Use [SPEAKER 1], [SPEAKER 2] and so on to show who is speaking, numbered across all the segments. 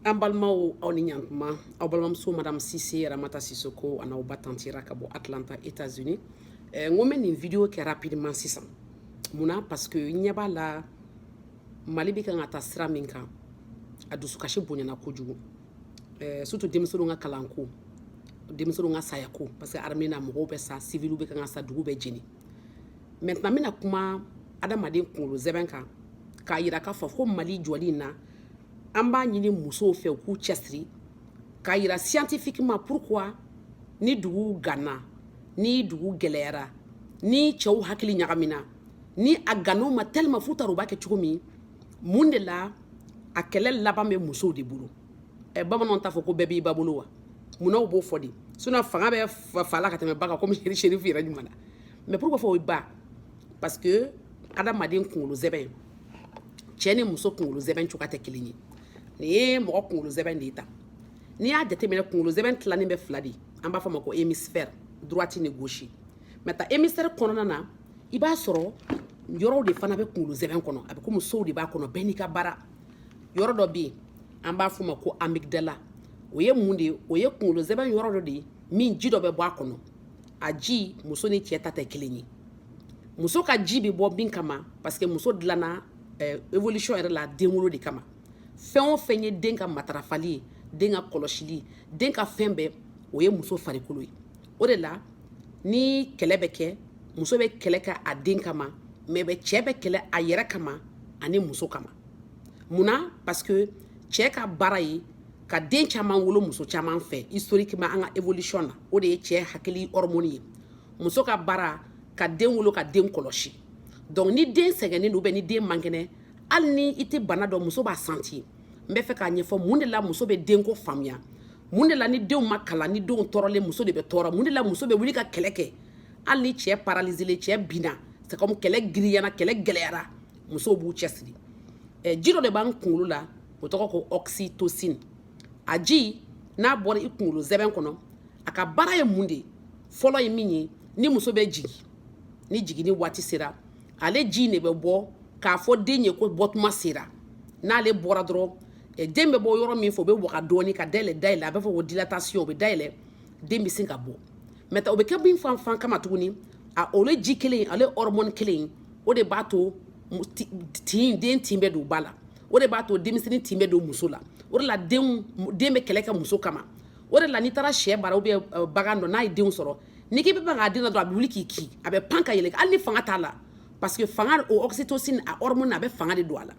[SPEAKER 1] an balimaw aw ni ɲantuma aw balimamuso madame sise ramata sisoko an'aw ba tanti ra ka bɔ atlanta états unis eh, n ko n bɛ nin video kɛ rapidement sisan mun na parce que n ɲɛ b'a la mali bɛ kan ka taa sira min kan a dusukasi bonyana kojugu eh, surtout denmisɛnninw ka kalanko denmisɛnninw ka sayako parce que armée na mɔgɔw bɛ sa siviliw bɛ kan ka sa dugu bɛ jeni maintenant n bɛna kuma adamaden kunkolo zɛbɛn kan k'a yira k'a fɔ ko mali jɔli in na an b'a ɲini musow fɛ u k'u cɛsiri k'a yira scientifiquement pourquoi ni dugu ganna ni dugu gɛlɛyara ni cɛw hakili ɲagamina ni a ganna u ma tellement f'u t'a dɔn u b'a kɛ cogo min mun de la a kɛlɛ laban bɛ musow de bolo ɛ bamananw t'a fɔ ko bɛɛ b'i ba bolo wa mun na u b'o fɔ de sinon fanga bɛ fa la ka tɛmɛ ba kan komi sherifu yɛrɛ ɲuman na mais pourquoi fɔ o ye ba parce que adamaden kunkolo zɛbɛn cɛ ni muso kunkolo zɛbɛn cogoya tɛ kelen ye nin ye mɔgɔ kunkolo zɛbɛn de ye tan n'i y'a jateminɛ kunkolo zɛbɛn tilanin bɛ fila de an b'a f'o ma ko hémisphère droite ni gauche maintenant hémisphère kɔnɔna na i b'a sɔrɔ yɔrɔw de fana bɛ kunkolo zɛbɛn kɔnɔ a bɛ komi sow de b'a kɔnɔ bɛɛ n'i ka baara yɔrɔ dɔ bɛ yen an b'a f'o ma ko amygdala o ye mun de ye o ye kunkolo zɛbɛn yɔrɔ dɔ de ye min ji dɔ bɛ bɔ a kɔnɔ a ji muso ni cɛ ta tɛ kelen ye muso ka ji bɛ bɔ min kama parce que muso dilanna eh, évolution yɛrɛ la denwolo de kama fɛn o fɛn ye den ka matarafali ye den ka kɔlɔsili den ka fɛn bɛɛ o ye muso farikolo ye o de la ni kɛlɛ bɛ kɛ muso bɛ kɛlɛ kɛ a den kama mais bɛ cɛ bɛ kɛlɛ a yɛrɛ kama ani muso kama mun na parce que cɛ ka baara ye ka den caman wolo muso caman fɛ historiquement an ka évolution na o de ye cɛ hakili hormone ye muso ka baara ka den wolo ka den kɔlɔsi donc ni den sɛgɛnnen don ni den man kɛnɛ hali ni i tɛ bana dɔn muso b'a sentir n bɛ fɛ k'a ɲɛfɔ mun de la muso bɛ denko faamuya mun de la ni denw ma kalan ni denw tɔɔrɔlen muso de bɛ tɔɔrɔ mun de la muso bɛ wuli ka kɛlɛ kɛ hali ni cɛ paralizelen cɛ binna c'est comme kɛlɛ girinyana kɛlɛ gɛlɛyara musow b'u cɛsiri eh, ji dɔ de b'an kunkolo la o tɔgɔ ko oxytocine a ji n'a bɔra i kunkolo zɛbɛn kɔnɔ a ka baara ye mun de ye fɔlɔ ye min ye ni muso bɛ jigin ni jiginni waati sera ale ji in de bɛ bɔ k'a fɔ den ye ko bɔtuma sera n'ale bɔra dɔrɔn den bɛ bɔ yɔrɔ min fɛ o bɛ waga dɔɔni ka dayɛlɛ dayɛlɛ a bɛ fɔ ko dilatation o bɛ dayɛlɛ den bɛ sin ka bɔ mais o bɛ kɛ mun fana kama tuguni ale ji kelen ale hormone kelen o de b'a to tin den tin bɛ don ba la o de b'a to denmisɛnnin tin bɛ don muso la o de la denw den bɛ kɛlɛ kɛ muso kama o de la n'i taara syɛ bara ou bien euh, bagan dɔ n'a ye denw sɔrɔ n'i k'i bɛ mag'a den na dɔrɔn a bɛ wuli k'i kin a bɛ pan ka yɛlɛ hali ni fanga t'a la parce que fanga o oxytocine a hormone a bɛ fanga de don a la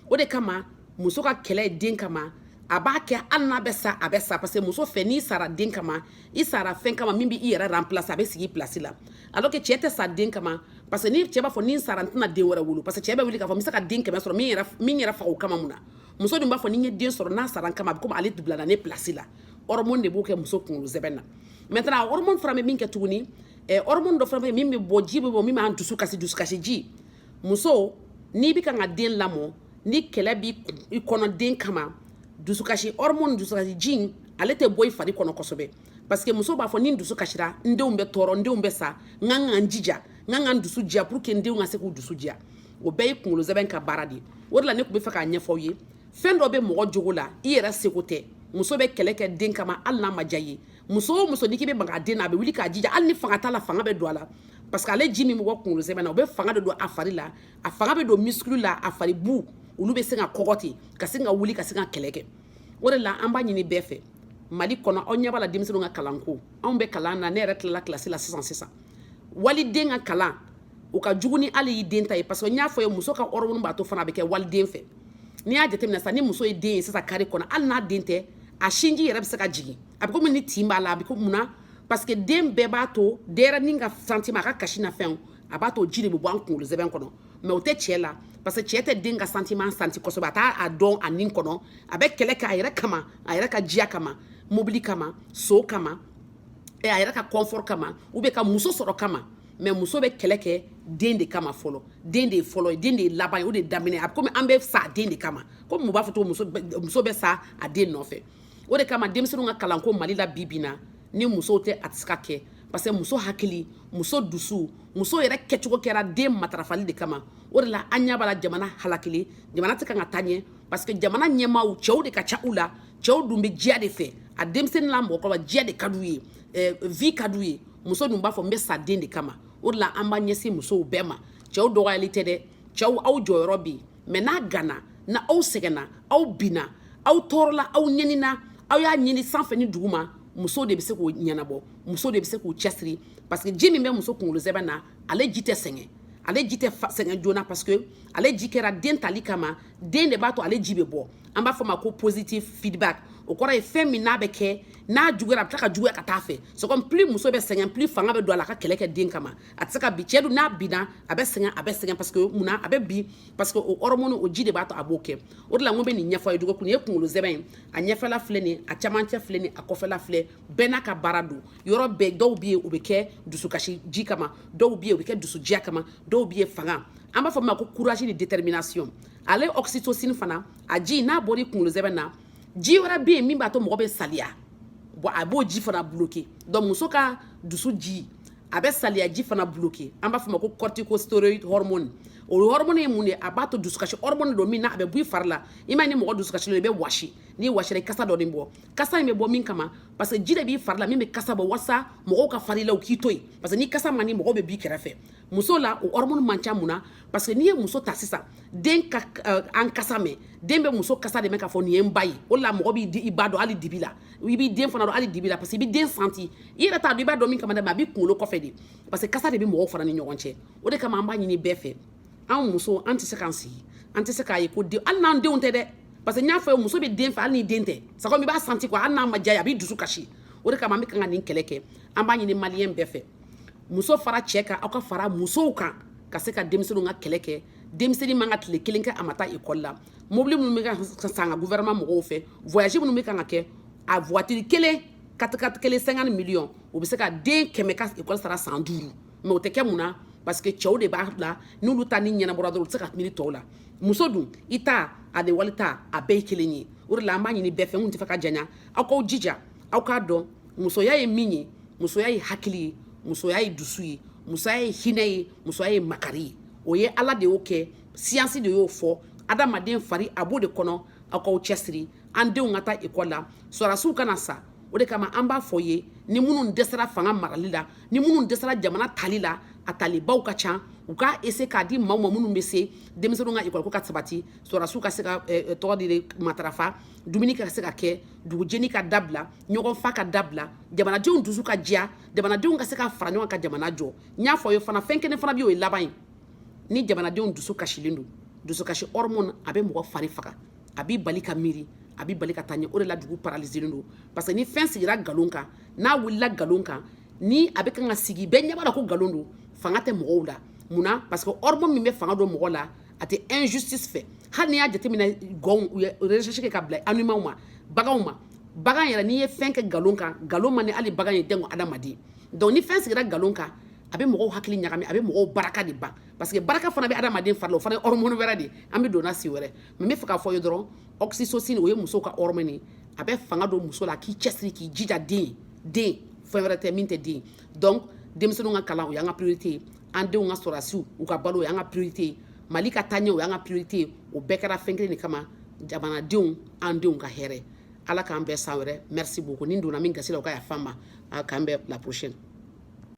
[SPEAKER 1] o de kama muso ka kɛlɛ ye den kama a b'a kɛ hali n'a bɛ sa a bɛ sa parce que muso fɛ n'i sara den kama i sara fɛn kama min bɛ i yɛrɛ remplace a bɛ sigi i place la alors que cɛ tɛ sa den kama parce que ni cɛ b'a fɔ ni n sara n tɛna den wɛrɛ wolo parce que cɛ bɛ wuli k'a fɔ n bɛ se ka den kɛmɛ sɔrɔ min yɛrɛ min yɛrɛ faga o kama mun na muso dun b'a fɔ ni n ye den sɔrɔ n'a sara n kama a bɛ komi ale bilala ne place la hormone de b'o kɛ muso kunkolo zɛbɛn na maintenant hormone fana bɛ min kɛ tuguni eh, hormone dɔ fana bɛ yen min bɛ bɔ ji bɛ bɔ min b'an dusu kasi dusukasi ji muso n'i bɛ kan ka den lamɔ ni kɛlɛ b'i kɔnɔ den kama dusukasi hormone dusukasi ji in ale tɛ bɔ i fari kɔnɔ kosɛbɛ parce que muso b'a fɔ ni n dusu kasira n denw bɛ tɔɔrɔ n denw bɛ sa n kan ka n jija n kan ka n dusu diya pour que n denw ka se k'u dusu diya o bɛɛ ye kunkolo zɛbɛn ka baara de ye o de la ne tun bɛ fɛ k'a ɲɛfɔ aw ye fɛn dɔ bɛ mɔgɔ jogo la i yɛrɛ seko tɛ muso bɛ kɛlɛ kɛ den kama hali n'a ma diya i ye muso o muso n'i k'i bɛ maga a den na a bɛ wuli k'a jija hali ni fanga t'a la fanga bɛ don a la parce que ale ji min bɛ bɔ kunkolo zɛmɛ na o bɛ fanga de don a fari la a fanga bɛ don muscle la a fari bu olu bɛ se ka kɔgɔ ten ka se ka wuli ka se ka kɛlɛ kɛ o de la an b'a ɲini bɛɛ fɛ mali kɔnɔ aw ɲɛ b'a la denmisɛnninw ka kalanko anw bɛ kalan na ne yɛrɛ tilala kilasi la sisan sisan waliden ka kalan o ka jugu ni hali y'i den ta ye parce que n y'a fɔ ye muso ka hormone b'a to fana a bɛ kɛ waliden fɛ n'i y'a jateminɛ sisan ni muso ye den ye sisan kari kɔnɔ hali n'a den tɛ a sinji yɛrɛ bɛ se ka jigin a bɛ komi ni tin b'a la a bɛ ko mun na parce que den bɛɛ b'a to denyɛrɛnin ka sentiment a ka kasi n'a fɛnw a b'a to ji de bɛ bɔ an kunkolo zɛbɛn kɔnɔ mais o tɛ cɛ la parce que cɛ tɛ den ka sentiment santi kosɛbɛ a t'a dɔn a nin kɔnɔ a bɛ kɛlɛ kɛ a yɛrɛ kama a yɛrɛ ka diya kama mobili kama so kama a yɛrɛ ka confort kama ou bien ka muso sɔrɔ kama mais muso bɛ kɛlɛ kɛ den de kama fɔlɔ den de ye fɔlɔ ye den de ye laban ye o de ye daminɛ a bɛ komi an bɛ sa den de kama komi u b'a fɔ cogo muso bɛ sa a den nɔfɛ o de kama denmisɛnninw ka kalanko mali la bi bi na ni musow tɛ a tɛ se ka kɛ parce que muso hakili muso dusu muso yɛrɛ kɛcogo kɛra den matarafali de kama o de la an ɲɛ b'a la jamana halakili jamana tɛ kan ka taa ɲɛ parce que jamana ɲɛmaaw cɛw de ka ca u la cɛw dun bɛ diya de fɛ a denmisɛnnin n'a mɔgɔkɔrɔba diya de ka d'u ye eh, vie ka d'u ye muso dun b'a fɔ n bɛ sa den de kama o de la an b'a ɲɛsin musow bɛɛ ma cɛw dɔgɔyali tɛ dɛ cɛw aw jɔyɔrɔ bɛ yen mais n'a ganna n'aw sɛgɛnna aw binna aw tɔɔrɔla aw ɲɛnina aw y'a ɲini sanfɛ ni duguma muso de bɛ se k'o ɲɛnabɔ muso de bɛ se k'o cɛsiri parce que ji min bɛ muso kunkolo zɛbɛn na ale ji tɛ sɛgɛn ale ji tɛ sɛgɛn joona parce que ale ji kɛra den tali kama den de b'a to ale ji bɛ bɔ an b'a fɔ ma ko positive feedback o kɔrɔ ye fɛn min n'a bɛ kɛ n'a juguyara a bɛ tila ka juguya ka taa fɛ c'est comme plus muso bɛ sɛgɛn plus fanga bɛ don a la a ka kɛlɛ kɛ den kama a tɛ se ka bin cɛ dun n'a binna a bɛ sɛgɛn a bɛ sɛgɛn parce que mun na a bɛ bin parce que o hormone o ji de b'a to a b'o kɛ o de la n ko n bɛ nin ɲɛfɔ a ye dɔgɔkun ye kunkolo sɛmɛn ye a ɲɛfɛla filɛ nin a camancɛ filɛ nin a kɔfɛla filɛ bɛɛ n'a ka baara don yɔrɔ bɛɛ dɔw bɛ yen o bɛ kɛ dusukasi ji kama dɔw bɛ yen o bɛ kɛ dusudiya kama dɔw bɛ yen fanga an b'a fɔ min ma ko courage ni détermination ale oxytocine fana a ji n'a bɔra i kunkolo sɛmɛn na ji wɛrɛ bɛ yen min b'a to mɔgɔ bɛ saliya bon a b'o ji fana bloquer donc muso ka dusu ji a bɛ saliyaji fana bloqué an b'a fɔ ma ko corticosteroid hormone o hormone ye mun ye a b'a to dusukasi hormone don min na a bɛ bɔ i fari la i m'a ye ni mɔgɔ dusukasi don i bɛ wɔsi n'i wɔsira i kasa dɔ de bɛ bɔ kasa in bɛ bɔ mun kama parce que ji de b'i fari la min bɛ kasa bɔ walasa mɔgɔw ka fara i la u k'i to yen parce que ni kasa man di mɔgɔw bɛ b'i kɛrɛfɛ muso la o hormone man ca mun na parce que n'i ye muso ta sisan den ka an kasa mɛn den bɛ muso kasa de mɛn k'a fɔ nin ye n ba ye o de la mɔgɔ b'i di i ba dɔn hali dibi la i b'i den fana dɔn hali dibi la parce que i bɛ den santi i yɛrɛ t'a dɔn i b'a dɔn min kama dɛ mais a b'i kunkolo kɔfɛ de parce que kasa de bɛ mɔgɔw fana ni ɲɔgɔn cɛ o de kama an b'a ɲini bɛɛ fɛ anw muso an tɛ se k'an sigi an tɛ se k'a ye ko den hali n'an denw tɛ dɛ parce que n y'a fɔ muso bɛ den fɛ hali n'i den tɛ c'est comme i b'a santi quoi hali n'a ma diya i ye a b'i dusu kasi o de kama an bɛ kan ka nin kɛlɛ kɛ an b'a ɲini maliyɛn bɛɛ fɛ muso fara cɛ kan aw ka fara musow kan ka se ka denmisɛnninw ka kɛlɛ kɛ denmisɛnnin man kan ka tile kelen kɛ a ma taa ekɔli la mobili minnu bɛ ka san ka gouvernement mɔgɔw fɛ voyage minnu bɛ kan ka kɛ a voiture kelen katikati kelen cinquante millions o bɛ se ka den kɛmɛ ka ekɔli sara san duuru mais o tɛ kɛ mun na parce que cɛw de b'a la n'olu ta ni ɲɛnabɔra dɔrɔn u tɛ se ka miiri tɔw la muso dun i ta a de wali ta a bɛɛ ye kelen ye o de la an b'a ɲini bɛɛ fɛ n kun t'a fɛ ka janya aw k'aw jija aw k'a dɔn musoya ye min ye musoya ye hakili ye musoya ye dusu ye musoya ye hinɛ ye musoya ye makari ye o ye ala de y'o kɛ siyansi de y'o fɔ adamaden fari a b'o de kɔnɔ aw k'aw cɛsiri an denw ka taa ekɔli la sɔrɔdasiw kana sa o de kama an b'a fɔ ye ni minnu dɛsɛra fanga marali la ni minnu dɛsɛra jamana tali la a talibaw ka ca u k'a essayer k'a di maaw ma minnu bɛ se denmisɛnninw ka ekɔliko ka sabati sɔrɔdasiw ka se ka eh, eh, tɔgɔ de matarafa dumuni ka se ka kɛ dugujeni ka dabila ɲɔgɔn fa ka dabila jamanadenw dusu ka diya jamanadenw ka se ka fara ɲɔgɔn kan ka jamana jɔ n y'a fɔ ye fana fɛn kelen fana bɛ yen o ye laban ye ni jamanadenw dusu kasilen don dusukasi hormone a bɛ mɔgɔ fari faga a b'i bali ka miiri a b'i bali ka taa ɲɛ o de la dugu paralizelen don parce que ni fɛn sigira nkalon kan n'a wulila nkalon kan ni a bɛ kan ka sigi bɛɛ ɲɛ b'a la ko nkalon don fanga tɛ mɔgɔw la mun na parce que hormone min bɛ fanga don mɔgɔ la a tɛ injustice fɛ hali n'i y'a jateminɛ gɔnw u ye recherche kɛ ka bila animaux ma baganw ma bagan yɛrɛ n'i ye fɛn kɛ nkalon kan nkalon man di hali bagan ye janko adamaden donc ni fɛn sigira nkalon kan a bɛ mɔgɔw hakili ɲagami a bɛ mɔgɔw baraka de ban parce que baraka fana bɛ adamaden fari la o fana ye hormone wɛrɛ de ye an bɛ don o la siɲɛ wɛrɛ mais n b'a fɛ k'a fɔ aw ye dɔrɔn oxytocine o ye muso ka hormone ye a bɛ fanga don muso la k'i cɛsiri k'i jija den den fɛn wɛrɛ tɛ min tɛ den donc denmisɛnninw ka kalan o y'an ka priorité ye an denw ka sɔrɔdasiw u ka balo o y'an ka priorité ye mali ka taaɲɛ o y'an ka priorité ye o bɛɛ kɛra fɛn kelen de kama jamanadenw an denw ka hɛrɛ ala k'an bɛn san wɛrɛ merci beaucoup ni n donna min gasi la o ka yafa n ma k'an bɛn à la prochaine